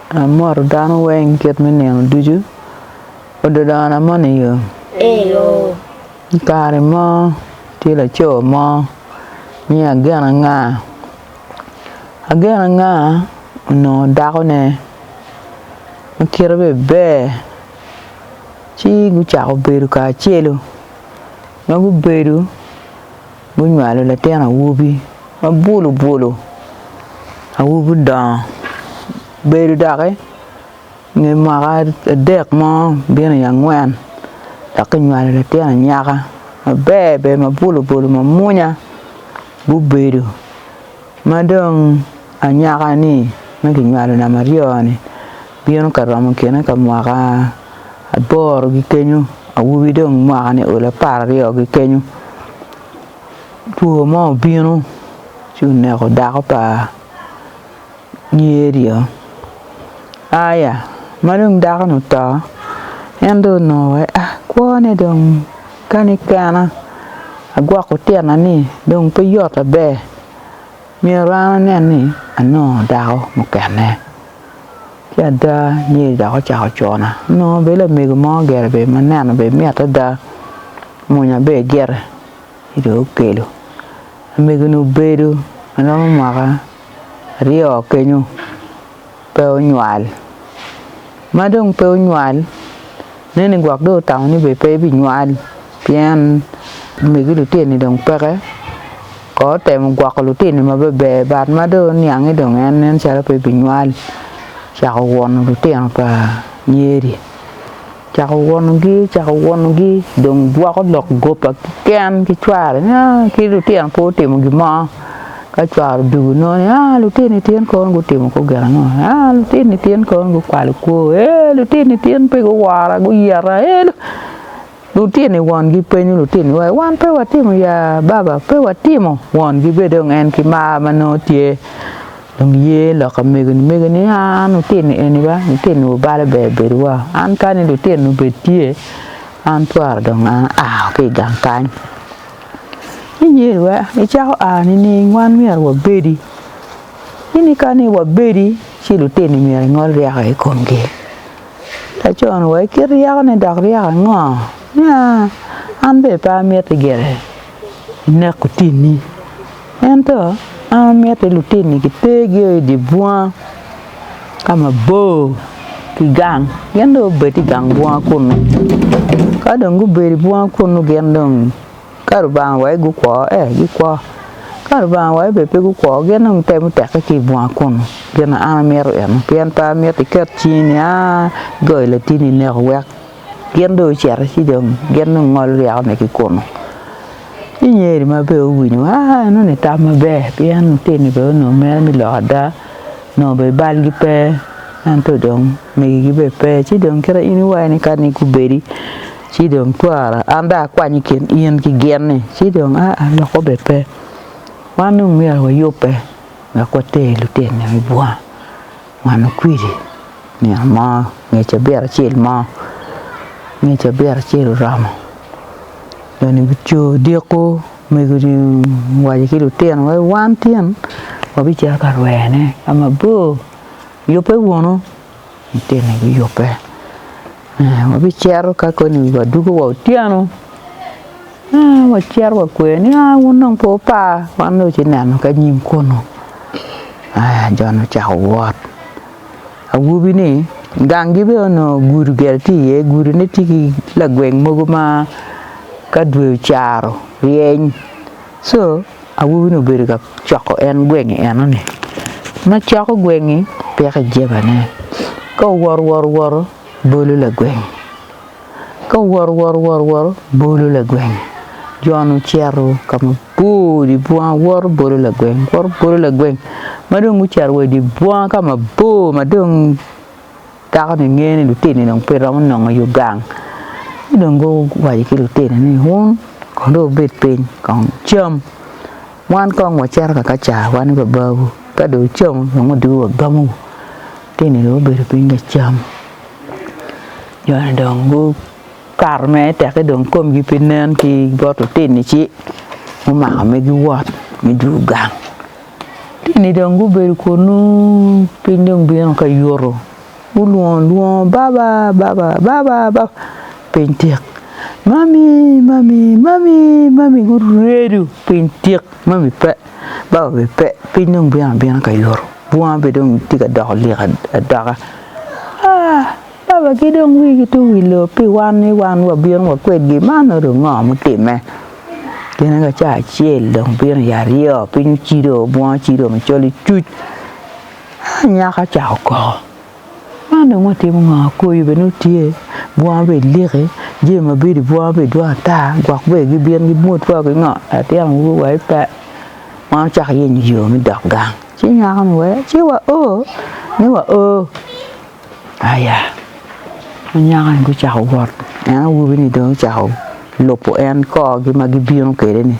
Amoto dano weng kit me nino ducu. Ododona mo ni yo. Eyo. I kare mo tye laco mo nyinge Agena Nga. Agena Nga onongo dako ne ma kite be ber ci gucako bedo kacelu ma gubedo Gunywalo latin awobi ma bwulu bwulu awobi odongo obedo doki nge mwaka adek mo bino i angwen dok kinywalo latin anyaka maber ber ma bwulu bwulu ma munya gubedo ma dong anyaka ni ma kinywalo namba aryo ni Bino ka romo kine ka mwaka aboro ki kenyo awobi dong mwaka ni olo apar aryo ki kenyo two mo obino ci oneko dako pa nyer ryo aya ma dong dako ni oto en dong onongo waci a kwone dong kani kena agwoko tyena ni dong pe yot aber myero an anen ni anongo dako mukene. Ci ada, nyer dok ocako cona. Onongo bene lamego mo ogero bene ma neno bene mit ada, mwonya bene egite ci dong okelo. Lamego-ni obedo ma romo mwaka aryo kenyo pe onywal, ma dong pe onywal Nen ni gwok dong otamo ni bene pe ebinywal pien omegi litino-ni dong peke. Kong otemo gwoko litino-ni ma beber but ma dong oniange dong en nen calo pe ebinywal, ocako wono litino pa Nyeri. Ocako wonogi, ocako wonogi dong gwoko lok goba keken ki cware ni aa ki litino pe otimo gin mo. Ka cware odugo nongo ni, aa lutino ityen kawon gutimo kor gin ango? Aa lutino ityen kawon gukwalo kwo, ee lutino ityen pe guwora guyeta, ee lutino iwon gi penyo lutino iwa ni wan pe watimo ya baba pe watimo won gi bed dong en ki mar ma nongo tye dong ye lok ki mego ni mego ni aa lutino eni ba lutino obalo ber bedo wa an kani lutino obed tye an twero dong aa ki gang kany. Inge wa icako a nining wan myero wabedi? Ini ka ni wabedi ci lutini myero ingol ryeko i komgi. Laco ni wa ikit ryeko ne dok ryeko ango? Nia an bene pe amiti gire inek otini. Ento an amiti lutini gitergio i dye bunga ka mabor ki gang, gin dong gubed i gang bunga kunu. Ka dong gubedo i bunga kunu gin dong ka Lubanga owaco ni gukwo ee gikwo, ka Lubanga owaco ni pe gukwo gin dong gitemo teke ki i bunga kunu. Gin na an amito eno pien pe amito iket cingi ni aa igoyo latini ineko wek. Gin dong ocito ci dong gin dong ngolo ryekone ki kunu. Ci Nyeri ma bene owinyo ni aa enoni tam maber pien lutini bene onongo mine me lok ada onongo bene balgi pe ento dong megigi bene pe ci dong kit in iwaco ni kani gubedi ci dong twara an dong akwanyo i kin in ki gin-ni ci dong aa loko bene pe wan dong myero wayubbe wek water lutini me bunga. Mano kwidi nino mo nge cabit acel mo nge cabit acel oromo dong ni bico odiko mego ni waco ki lutino wa ni wan tyen wabicito ka rwene ka mabor yubbe wunu lutinoni guyubbe. Wabicito ka koni wi wadwogo wa otyeno wacito wakweyo ni aa wun dong pe wupa wan dong wuci neno ki anyim kunu. Aya Jon ocako wot, awobini gangi bene onongo gudi ogero tye iye gudine tye ki lagweng mogo ma ka dwe ocaro ryeny. Co awobi ni obedo ka coko en gwengi eno ni ma coko gwengi peko i jeba ne ka owoto woto woto bolo lagwengi ka owoto woto woto woto bolo lagwengi jo ni ocito ka ma bor idi bunga woto bolo lagwengi woto bolo lagwengi ma dong gucito wa idi bunga ka mabor ma dong Dako ni ngeyo ni lutino ni dong pe romo nongo yo gang ci dong guwaco ki lutino ni wun kong dong wubed piny kong wucam wan kong wacito ka ka car wan ki babawu ka dong wucamo dong wadugu wagamo, lutino ni dong gubedo piny ka cam jo ni dong gukato mere tekki dong komgi pe nen ki bot lutini ci gumako me giwot me dwogo gang. Eni dong gubedo kunnu, piny dong bino ka yuto, gulwongo alwonga, Baba, Baba, Baba, Baba, piny tik, Mami, Mami, Mami, Mami, guredo piny tik, Mami pe, Baba bene pe, piny dong bino abina ka yuto, bunga bene dong tye ka doko lik adoka aa! Babagi dong wigi tye wi lobo pi wan ni wan wabino wa kwedgi, man nongo dong ngo mutimme? Gine ka ca acel dong bino i aryo, piny ocido, bunga ocido macol icuc, aa anyaka ocako koko, man dong watimo ngo? Koyo bene nongo tye, bunga bene eliki, jami mabedo i bunga bene dwong ata, gwok bene gibino gimwod wa ki ngo, latin awobi owaco pe, wan wacako yenyo yo me dok gang, ci nyako ni wee ci wa oo ni wa oo. Aya, anyaka-ni gucako wot, en awobi-ni dong ocako lubo en korgi ma gibino kwede-ni.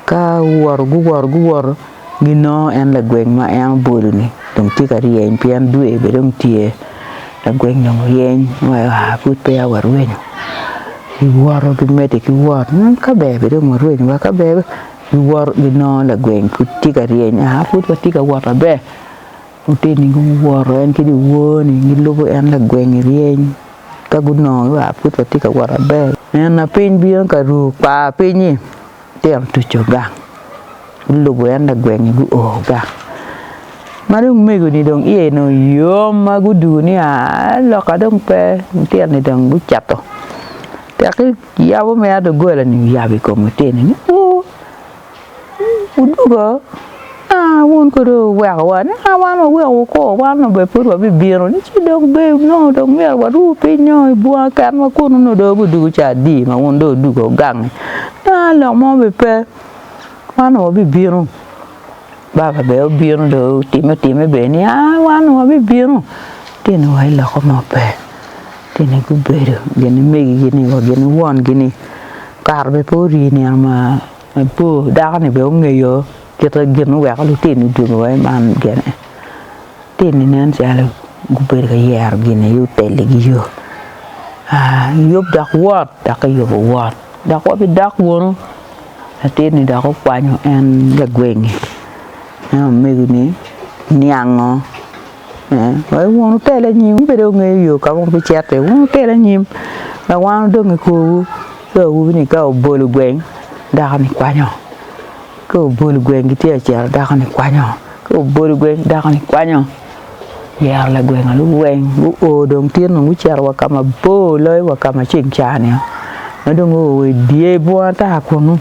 Ka guwoto guwoto guwoto, ginongo en lagweng ma en obolo-ni dong tye ka ryeny pien dwe bene dong tye. Lagweng dong oryeny ni aa pud peya warwenyo, giwoto gimedde ki wot ni ka ber bene dong warwenyo wa ka ber, giwoto ginongo lagweng pud tye ka ryeny ni aa pud watye ka wot maber. Lutini guwoto, en ki dyewor-ni gilubo en lagweng i ryeny. Ka gunongo ni wa pud watye ka wot maber, nen ma piny bino ka ru kwar piny-nyi, litino otuco gang, gulubo en lagweng-nyi guo gang. Ma dong omego-ni dong iye dong yom ma gudwogo ni aa loka dong pe, litino-ni dong gucito. Tekki yabo mere doggola-ni oyabo i kom litini ni uu! Odwogo, aa, wun kadi wuwekowa, nika wan wawekowu ko, wan onongo bene pud wabibino ni ci dong ber nongo dong myero waru piny nongo i bunga kenwa kunu nongo dong wabidwogo dwogo ca adi ma wun dong wudwogo gangi, aa, lok mo bene pe, wan onongo wabibino. Baba bene obino dong otime time bene ni aa wan onongo wabibino, tyen ni wa i loko mo pe, tyen ni gubedo gin ni megigi ni wa gin ni wongi ni kare bene pe ori nino ma. Apo dako ni bene ongeyo kite gin muweko lutini odwogo wa i man gene, lutini nen calo gubedo ka yero gin aye oteli gi yo, aa yub dok wot dok kiyubo wot dok wabidok wunu, latin ni dok okwanyo en lagweng-nge en omego ni niango Wun wutel anyim, in bene wungeyo yo ka ma wubicito iye. Wun wutel anyim, wek wan wudong i korwu. Ci awobi-ni ka obolo gweng, dako-ni kwanyo, ka obolo gweng gitye ka cito, dako-ni kwanyo, ka obolo gweng dako-ni kwanyo. Oyero lagweng alubo weng, guo dong tye dong gucito wa ka mabor loyo wa ka ma ceng cani-o, ma dong guo wa i dye bunga ata kunnu.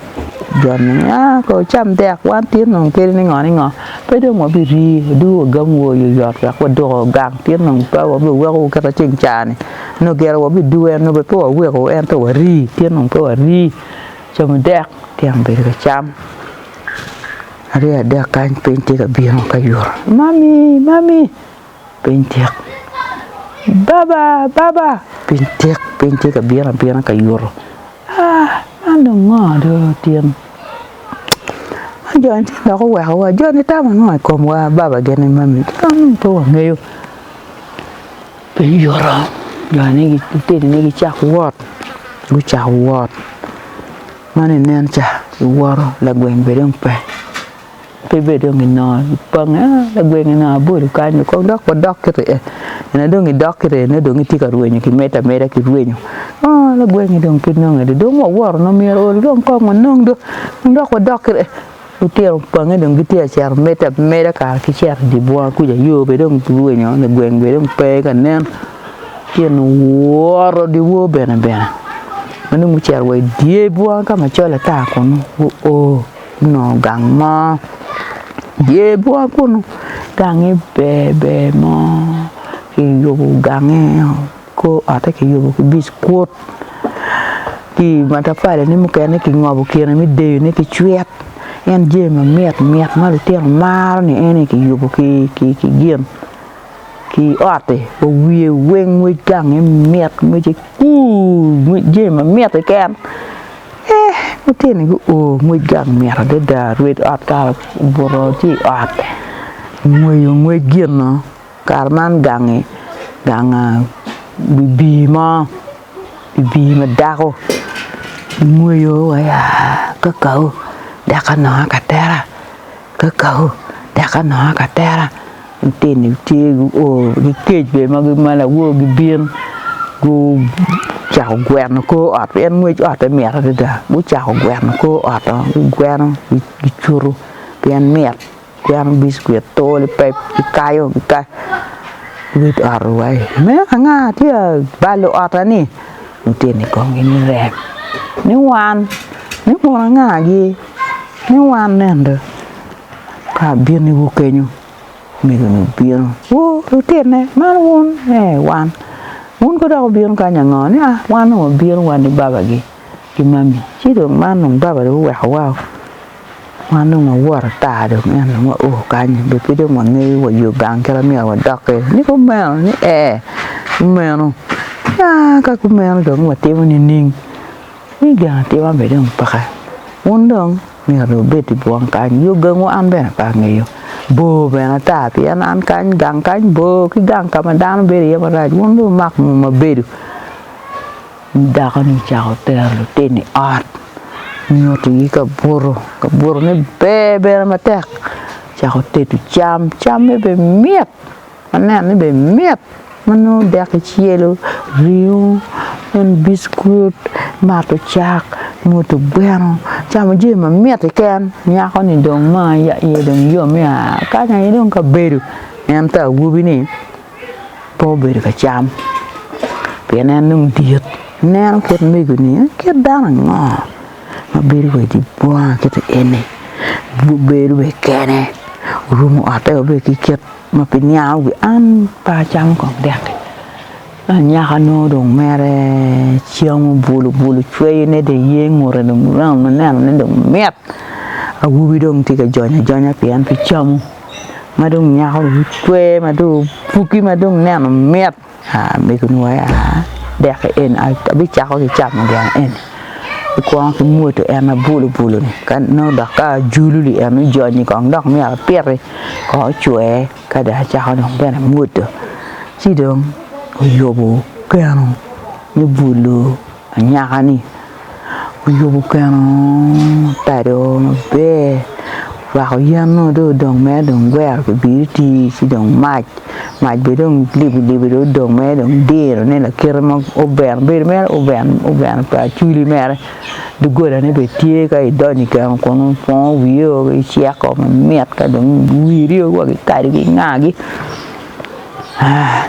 Jo-ni ni aa ko wucam dek, wan tye dong kadi ni ngo ni ngo. Pe dong wabirii, waduru wagang wor i oyot wek wadoko gang, pien nongo pe wabiwekowu kit ma ceng ca-ni nongo gire wabiduwe, nongo bene pe wawekowu, ento warii, pien nongo pe warii. Camu dek, tyen obedo ka cam. Aryo adek kany piny tye ka bino ka yuto, 'Mami, mami! Piny tik, Baba! Baba! Piny tik, piny tye ka bino abina ka yuto. Ah, man dong ngo dong otin? Man joni tye dok owekowa. Joni tamo ngo i komwa? Baba gin ni mami, kadi nongo pe wangeyo. Piny yuto, joni lutinine gicako wot, gucako wot. Man inen ca, giwoto, lagweng bene dong pe. Pe bed dong inongo ipange ah lagweng inongo abolu kany ni kong dok wadok ki rye, ene dong idok ki rye nongo dong itye ka rwenyo ki medo ameda ki rwenyo oh lagwengi dong pe nonge dong, dong wawoto nongo myero ool dong kong wanong dong kong dok wadok ki rye, lutino opange dong gitye ka cito medo ameda kara ki cito idye bunga kuca yo bene dong ki rwenyo lagweng bene dong pe ka nen, litino owoto dyewor bene bene ma nongo gucito wa idye bunga ka macol ata kunu gu oo onongo gang mo dye bunga kunu gange ber ber mo kiyubo gange kor otte kiyubo ki bicwit ki matafali ne mukene kingobo kine me deyone ki cwit en jami mamit mit ma lutino maro ni en aye kiyubo ki gin. ki i otti wa wiye weng ngwec gange mit ngwece kuur jami ma mit keken ee lutini gu o ngwec gang mit adada rwed ot kare obuto tye i ot ngweyo ngwec gino kare man gangi ganga bibii mo bibii ma dako ngweyo wa ya kakau deka nongo aka tera kakau deka nongo aka tera. Lutini tye guo ki kec bene ma gimalo awob gibin gucako gweno kor ot pien ngwec otte mit adada gucako gweno kor ot oo gigweno gicutu pien mit gigweno biscuit too lipep gikayo gikayo wit ot owai me anga tye ka balo otta ni lutini kong ginirem ni wan ni kun angagi ni wan ento. Ka abiniwu kenyo, omegoni obino. Wu lutinne, man wun? Ee, wan. Wun kono dok wubino kany ango? Ni, Ah, wan dong wabino, wan ki babagi ki mami. Ci dong man dong baba dong owekowao. Wan dong wawot ata dong, ento dong wao kanyi. Be pe dong wangeyo wa yo gang kit ma myero wadok-ki? Ni kumeno? Ni, Ee, kumeno. Ni, Ah, ka kumeno dong watimo nining? Ni, Gin atima be dong peke. Wun dong? Myero ibed i bwong kany, yo gangwu an bene pe angeyo, bor bene ata pien an kany gang kany bor ki gang ka ma dano bedo iye marac, wun dong wumak ngu ma bedo. Dako-ni ocako tero lutino i ot, nyutigi kabuto, kabutone ber bene matek, ocako tedo cam, camme bene mit. Aneno ni bene mit ma nongo dek kicelo, ringo, en biskut, mato cak, moto gweno, camo jami mamit keken. Nyako-ni dong ma iye dong yom ni a kany aye dong ka bedo ento awobi-ni pe obedo ka cam pien en dong dit. Ineno kit mego-ni kit dano ango ma bedo wa idye bunga kit eni? Obedo bene kene, orumo otte wa bene ki kit. ma pi niang wi an pe acamo kong dek-ki. Ento anyaka nongo dong mere camo bulu bulu cweyone dong iye ngute dong romo ma nenone dong mit. Awobi dong tye ka jony ajonya pi en pe camo ma dong nyako dong ocwe ma dong opuki ma dong neno mit. Amego nongo aye aa deki eni abicako ki camo gin eni ekwongo ki mwodi en abulo bulo ni ka nongo dok ka ajulu ni en ojony kong dok myero apiti kong ocwer ka dong acako dong bene mwodo ci dong oyobo keno me bulo. Anyaka-ni oyubo keno tado maber, orwako yen nongo dong odong mere dong gwero pi biriti ci dong mac, mac bene dong libilibi dong odong mere dong dirone lakite ma oven bedo mere oven oven pa acwili mere, dogolane bene tye ka idonyo i keno kunu ipwongo wiyeo iceko mamit ka dong wiri wa kikado ki ingagi aa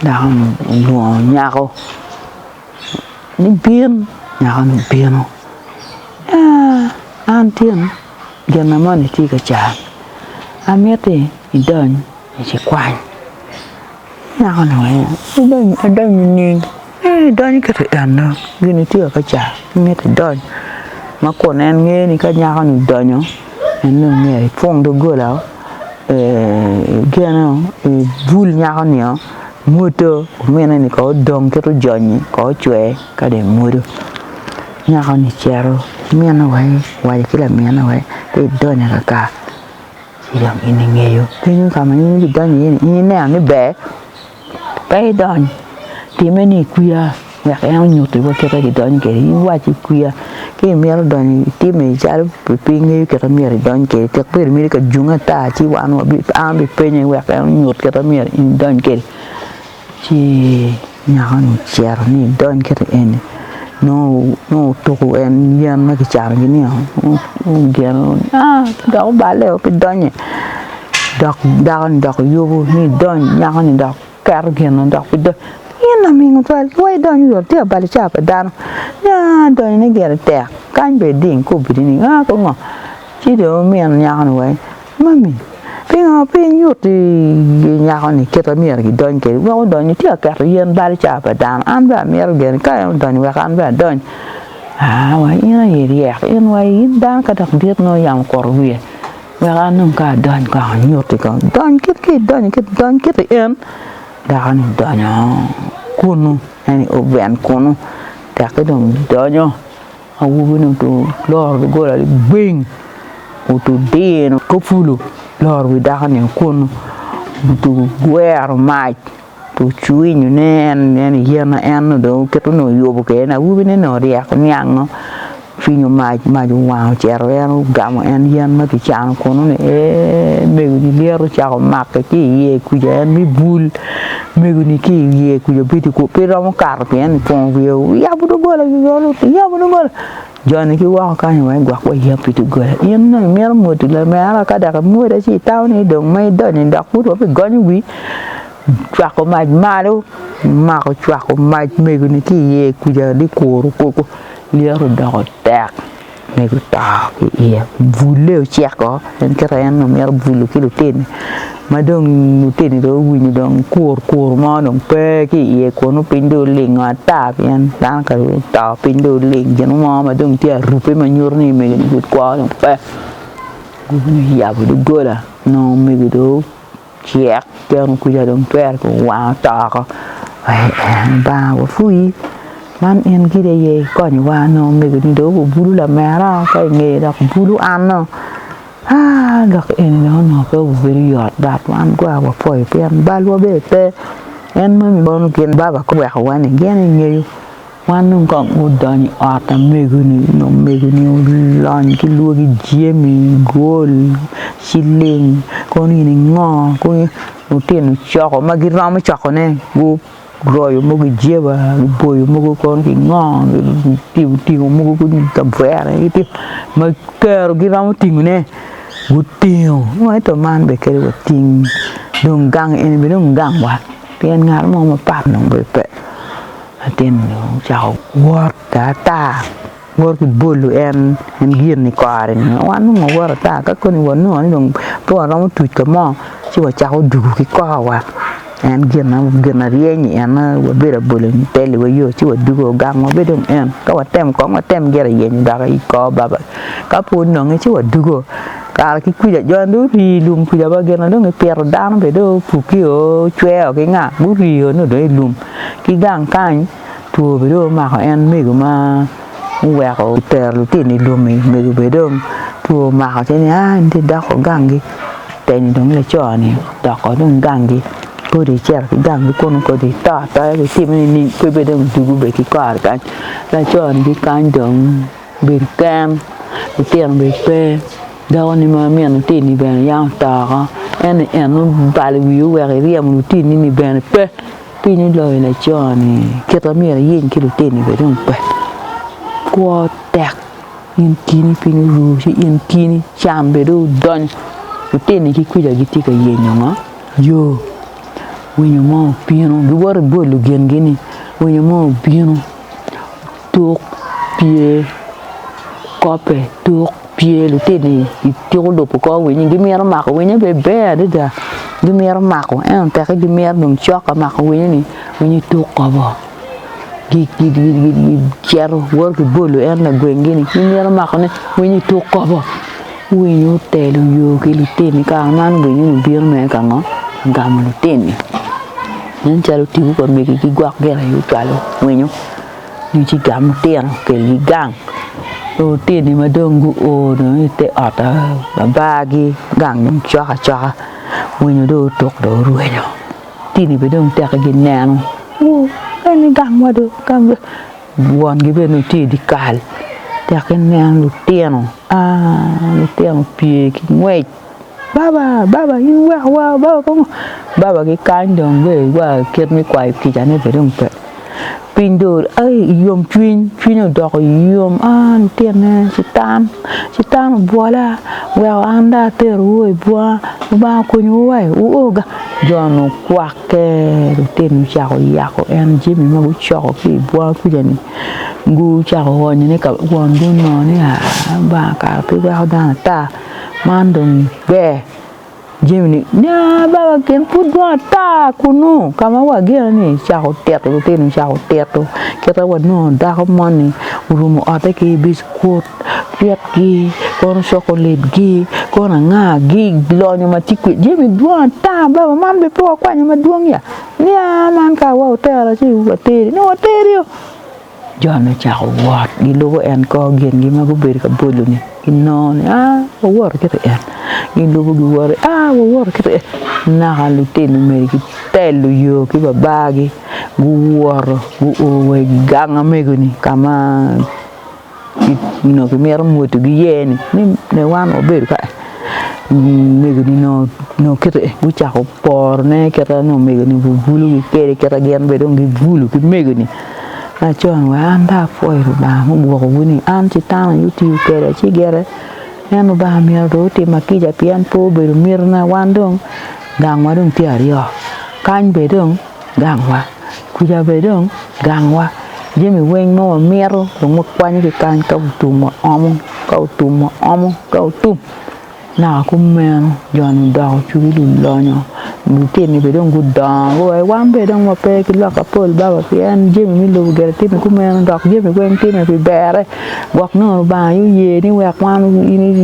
dako-ni olwongo nyako. Nibin nyaka nibino, aa, an tin, gin na moni tye ka can, amito ni idony i cikwany. Nyako-ni oweko, adony, adony nining? Ee, idonyo kit i en dong, gin-ni tye ka can, imito idony. Ma kun en ngeyo ni ka nyako-ni odonyo, en dong myero ipwong doggolau, ee, igeno, ibul nyako-ni-o, Mwodo omine ni kong odong kit ojonyi kong ocwe ka dong emwodo nyako ni cito mine wa owaco ki lamine wa pe idony akaka ci dong in ingeyo kenyo ka ma in ibi donyo iye ni in ineno ni ber pe idony time ni ikwiya. Wek en onyutiwa kit ma kidonyo kwede. In iwaci kwiya ka imito donyo i timme calo pi piny ngeyo kit ma myero idony kwede. Tek bed imito ka junge ata ci wan wabipenye wek en onyut kit ma myero in idony kwede. Ci nyako-ni ocito ni edony kit eni nongo otuko en yen ma kicano ki niang ogeno dok obale o pe donye dok dako-ni dok yubo ni edony nyako-ni dok. Keto gin-nu dok bidonyo. Gin laming otwal ki wa idony i ot, ti abalo ca pa dano. Nya donyone gire tek. Kany bene iding kobbi-ri ni, Aa ki ngo? Ci dong wumin nyako-ni wa ni, Mami, pingo pe inyutti i nyako-ni kit ma myero gidony kwede wek odonyo? Ti aketo yen balo ca pa dano. An bene amito gire ni ka en odonyo wek an bene adony. Aa wa, in aye iryek. In wa, in dano ka dok dit nongo yam okuto wiye. Wek an dong ka adony kong anyutti kong, dony kit ka idonyo kit, dony kit i en. Dako-ni odonyo kunnu, en i oven kunnu, tekki dong donyo. Awobi-ni otur loro doggola ligbing, otur dino kop fulu loro wi dako-ni kunnu, otugo gwero mac. Wucwinyo ne en nen i yen ma en dong oketo ni oyubo kede ni awobi ne ni oryeko niango cwinyo mac mac owango ocito en ogamo en yen ma ki cano kunu ni eeh mego ni lyeto ocako make ki iye kuca en me bul mego ni ki iye kuca obedi kunu pe romo kato pien ni twongo wiye oyabo dogola yabo dogola. Joni ki woko kany wa igwok wa yam pi doggola. In dong imito mwoddi lamera ka dok imwode ci itamo ni dong ma idonyo-ni dok pud wa pi gonyo wii cwako mac malo mako cwako mac mego-ni ki iye kuja ni kuru koko lyeto odoko tek mego to ki iye bulle oceko en kit ma en dong mito bulo ki lutine. Ma dong lutini dong guwinyo dong kur kur mo dong pe ki iye kunnu piny dong olingo ata pien dano ka dong oto piny dong oling gin mo ma dong tye arubbe ma nyuto ni omegoni pud kwo dong pe guwinyo guyabo doggola nongo omego dong ocek ki eno kwija dong twero dong owang oto oko Lubanga wapwonyi man en gin aye ikonyowa nongo omegoni dong obulu lamera ka ingeye dok bulu anno. Aa dok eni bene onongo pe obedo yot but wan gwa wapwoyo pien balwa bene pe en moni mono gin baba guweko wa ni gin ingeyo wan dong kong gudonyo i ot amego-ni nyo omego-ni olony ki lwaki jami gol ciling kono in ingo kong lutino coko ma giromo cokone gu Guroyo mogo ki jeba, guboyo mogo kono ki ngo, gutingo mogo kadi i kavere ma kero giromo tingone gutingo ento man bene kadi wating dong gang eni bene dong gang wa pien ngat mo mapat dong bene pe latin-ni ocako wot tar tar. Wor ki bolu en en gin i kore-ni. Wan nongo wawor ata ka koni wanongo ni dong pe waromo tuc ka mo ci wacako dugu ki kowa. En gin gin aryeny ni en wabedo abole ni tel iwa yo ci wadugo gang wabe dong en ka watem kong watem gire yenyo dok i kor baba ka pe ononge ci wadugo kara ki kwija jo ni dong ori i lum kwija wa gin dong gipito dano bene dong opukio ocweo ki nga gurio ni odong i lum ki gang kany two bene dong omako en mego ma oweko otero lutino i lum-mi mego bene dong two omako ci ni ai in ti idoko gangi teni dong laco-ni odoko dong gangi kodi icito ki gangi kunnu kodi ito atoya kodi itime nining pe bed dong odugu bene ki kore kany laco-ni ki kany dong obedo ken litino bene pe dakoni ma min litini bene yam oto woko ento en obalo wiye oweko eryemo litini-ni bene pe. Piny oloyo laco-ni, kit ma myero iyiny ki litini bene dong pe, kwo tek in kini piny oru ci in kini can bene dong odonyo, litini ki kuca gitye ka yenyo ngo? Yo, winyo mo obino giwoto ibwolo gingi-ni, winyo mo obino tuk pye kope tuk pye litini i tuku lubo kor winyi gimito mako winyo be ber adada gimito mako ento tekki gimito dong cok ka mako winyo ni winyo tuk kobo gicito woto ki bolo en lagweng gi ni gimito mako ne winyo tuk kobo winyo otelo yo ki litini kare man winyo ni obino mere ka ngo ka gamo litini nen calo tipo pa megi gigwok gire calo winyo. ducu igamo itino okelgi gang ki lutini ma dong guo dong ite ot babargi gang dong cok acoka winyo dong otuk dong orwenyo lutini bene dong tekki gineno wuu meno gangwa do gangwa wongi bene dong tye idye kal tekki neno lutino aa lutino opye ki ngwec. baba baba in weko wa baba pe ngo baba gikany dong be wa kit me kwayo kicane be dong pe piny dong ai yom cwiny cwinye odoko yom aa litine citam citam obwola weko an dong aterowu i bunga Lubanga okonyowu wa i wuo ga jo ni okwakke litino ocako yako en jami ma gucoko ki i bunga kuca ni gucako onyone ka wongi onongo ni aa Lubanga kara pe weko dano ata. man dong ber jami ni nya baba gin pud dong ata kunu ka ma wageno ni cako tito lutino cako tito kita wanongo dako moni orumo otte ki biskut cwitgi kono cokolet gi kono anga gi lonyo ma tye kwi jami dwong ata baba man bene pe wakwanyo madwong ya nya man ka wa otera ci wateri nongo wateri o. Jo-ni ocako wot gilubo en ko, gingi ma gubedo ka bwolo-ni ginongo ni, Wawoto ki i en. Gilubo giwoto ni, Wawoto ki i en. Naka litino meri gitelo yo ki babagi, guwoto guu wa i gang ma mego-ni ka ma Kit nyo ki mito mwuto gi ye ni ne wan wa bedo ka omego ni no no kete gu cako poro ne kete ni omego ni gu bulu gi kede kete gin bene dong gi bulu ki mego ni ma co ni wa an dong apwoyo Lubanga ma ogwoko wu ni an citana aye otiyo kede ci gire en Lubanga myero dong otima kica pien pe obedo mito na wan dong gang wa dong tye aryo kany bene dong Gangwa. Kuca bene dong gangwa jami weng ma wamito dong wakwanyo ki kany ka otum wa omo ka otum wa omo ka otum naka kumeno joni odoko cwiny lulonyo lutini bene dong gudongo wa wan bene dong wape ki lok mapol baba pien jami me lobo gire time kumeno dok jami weng time pi berre. Gwok nongo Lubanga aye oye ni wek wan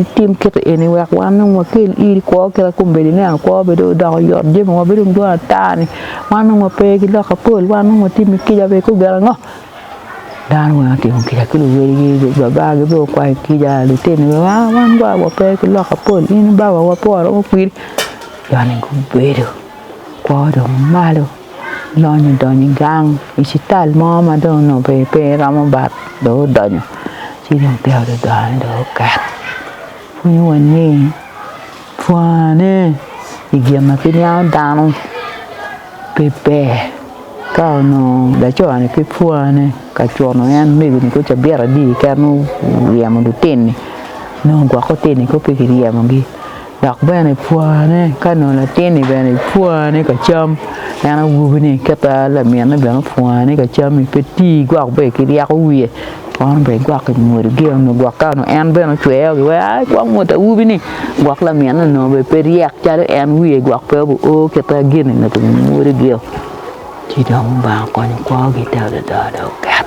itim kiti eni wek wan dong wakel iri kwo kit ma kombeddi ne kwo bedo odoko yot jamiwa bedo dong dwong ata-ni wan dong wape ki lok mapol wan dong watimi kica bene ikobo gin ango dano weng otimo kica ki luwadigi babagi bene okwanyo kica lutino wa wan dong wape ki lok mapol in babawa pore mo kwiri joni gubedo kwo dong malo. Lonyo odonyo i gang i cital mo ma dong onongo bene pe romo bat dong odonyo ci dong peya ododone dong oket pwonyo wa ni pwone i gin ma pe niango dano pe ber ka onongo laco-ni pe pwone ka cuno en omego-ni kong cabit adi kene oryemo lutini nongo gwok lutini kong pe kiryemo gi. Dok bene pwone ka nongo latin-ni bene pwone ka cam, en awobi-ni kite laminne bene opwone ka cam-mi, pe ti gwok be ki ryeko wiye, kono be igwok i mwodi gi onongo gwok ka onongo en bene ocweyo gi weko ai kong mwod awobi-ni gwok laminne onongo be pe ryek calo en wiye gwok pe obi o kite gin-ni onongo ki mwodi gi-o, ci dong Lubanga okonyo kwogi te adada dong oket.